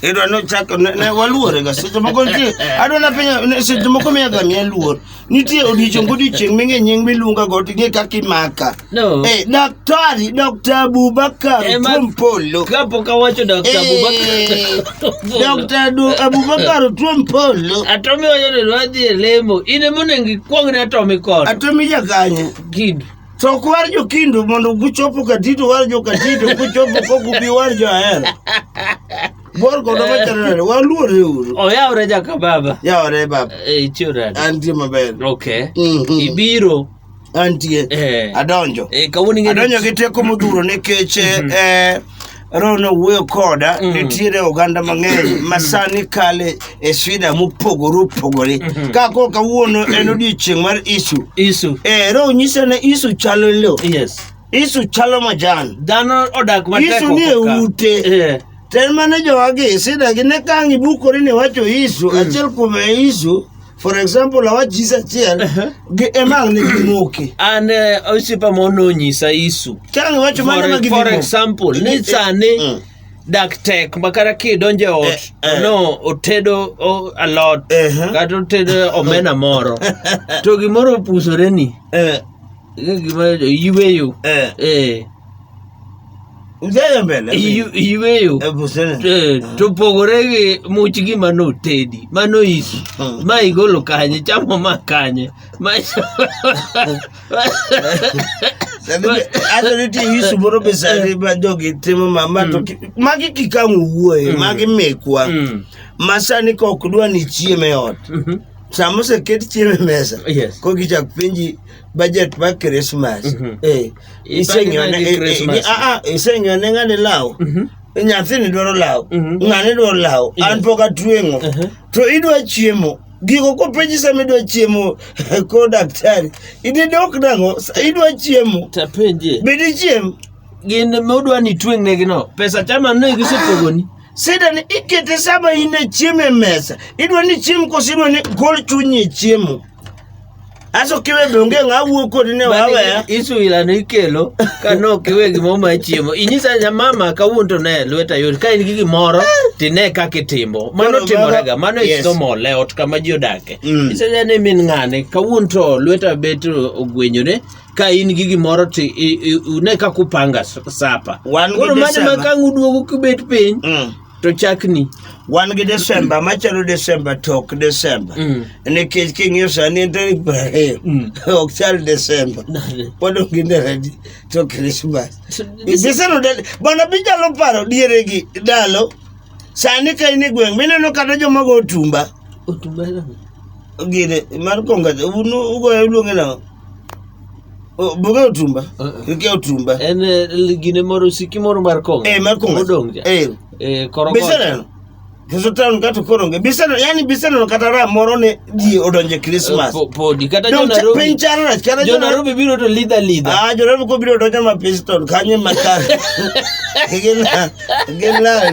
idwa ni ochak ne- ne waluore ga seche moko nitie adwa na penyo ne- seche moko miya ga miya luor nitie odiechieng' godiechieng' ming'e nying miluonga go ting'e kaka imaka No. Eh, daktari dr abubakar Eh, ma- tuom polo Kapo ka wacho Dr. Eh, Abubakar. dr Du- abubakar tuom polo Atomi wacho ni wadhi e lemo. In ema onego ikwong ne atomi kod. atomi jakanye Kid. To ok war jo Kindu mondo guchopo Katito war jo Katito guchopo kok ubi war jo Ahero. Bor kodo machanore waluore uru. Oyawre jaka baba. Yawore baba. Eh, Ichiwrani. Antie maber. Okay. Mhm. Ibiro. Antie. Eh. Adonjo. Eh, kawuono ing'e ni- Adonjo gi teko modhuro nikech eh, Ron owuoyo koda mm. nitiere oganda mang'eny ma mm. sani kale e shida mopogore opogore mm-hmm. ka koro kawuono en odiechieng' mar isu isu eh, ro nyisa ne isu chalo lo yes. isu chalo majan dhano odak isu ni e ute yeah. ten mane jowagi shidagi ne kang' ibukori ni wacho isu mm. achiel kuom e isu For example, awa Jesus achiel gi emang ne gimoke. An eh, osiepa moro nonyisa Yesu. Chang wacho mano ma For, for gidhi. example, ni Mm. sani dak tek ma kata kidonjo e ot Eh, eh. no otedo o- alot Ehe. kata otedo omena moro to gimoro opusore ni Eh, gima yweyo eh. eh Iweyo eh, to pogore gi much gima notedi ma noisi hmm. ma igolo kanye chamo ma kanye ma nitie yisu moro be sani ma jogi timo mama to hmm. magi kikang' owuoye hmm. magi mekwa ma sani ka ok dwa ni chieme ot mhm. sama oseket chiemo e mesa kokichak penji budget ba christmas Mhm. eh Ipange iseng'ione nadi eh, eh, Christmas? gi- ah, ah, iseng'ione ng'ani law Mhm. nyathini dwaro law Mhm. ng'ani dwaro law Yes. an pok atweng'o Mhm. to idwa chiemo gigo kopenji sama idwa chiemo ko daktari idhi dok nang'o Sa- idwa chiemo tapenje be dichiem gin modwa ni tweng'negino pesa chama ne gisepogoni sida ni ikete sama in e chiemo e mesa idwa ni chiem koso idwa ni gol chunyi e chiemo Aso kiwe donge ng'a wuo kodi ne wawe. Isu ila no ikelo ka no kiwe gimo ma chiemo. Inyisa nya mama ka wunto ne lweta yori ka in gi gimoro ti ne ka kitimo. Mano timore ga mano yes. iso mole ot kama ji odake. Mm. Inyisa nya ne min ng'ane ka wunto lweta beto ogwenyore ka in gi gimoro ti ne ka kupanga sapa. Wan gi sapa. Koro mano ma ka nguduogo kibet piny. Mm. to chakni wan gi desemba machalo desemba to ok desemba mm. nikech king'iyo sani en tarik piero ariyo mm. ok chal desemba pod onge ndaradi to krismas gisenodel bana binyalo paro diere gi ndalo sani ka in e gweng' mineno kata jomago otumba gine mar konga ugoyo luonge nang'o Oh, Buge otumba. Ike otumba. En eh, l- gine moro siki moro mar kong'o. Eh, mar kong'o. Modong' cha. Eh. Eh, korokocha. Biseneno. Keso town kato koronge. Biseneno, yani biseneno kata ra moro ne ji odonje Eh, Christmas. po- Podi. Kata jo Dong cha- Nairobi. Piny chara rach. Kata Jo Nairobi biro to lidha lidha. Ah, jo Nairobi ko biro donjo ma pistol kanye makar. Gin la. Gin la.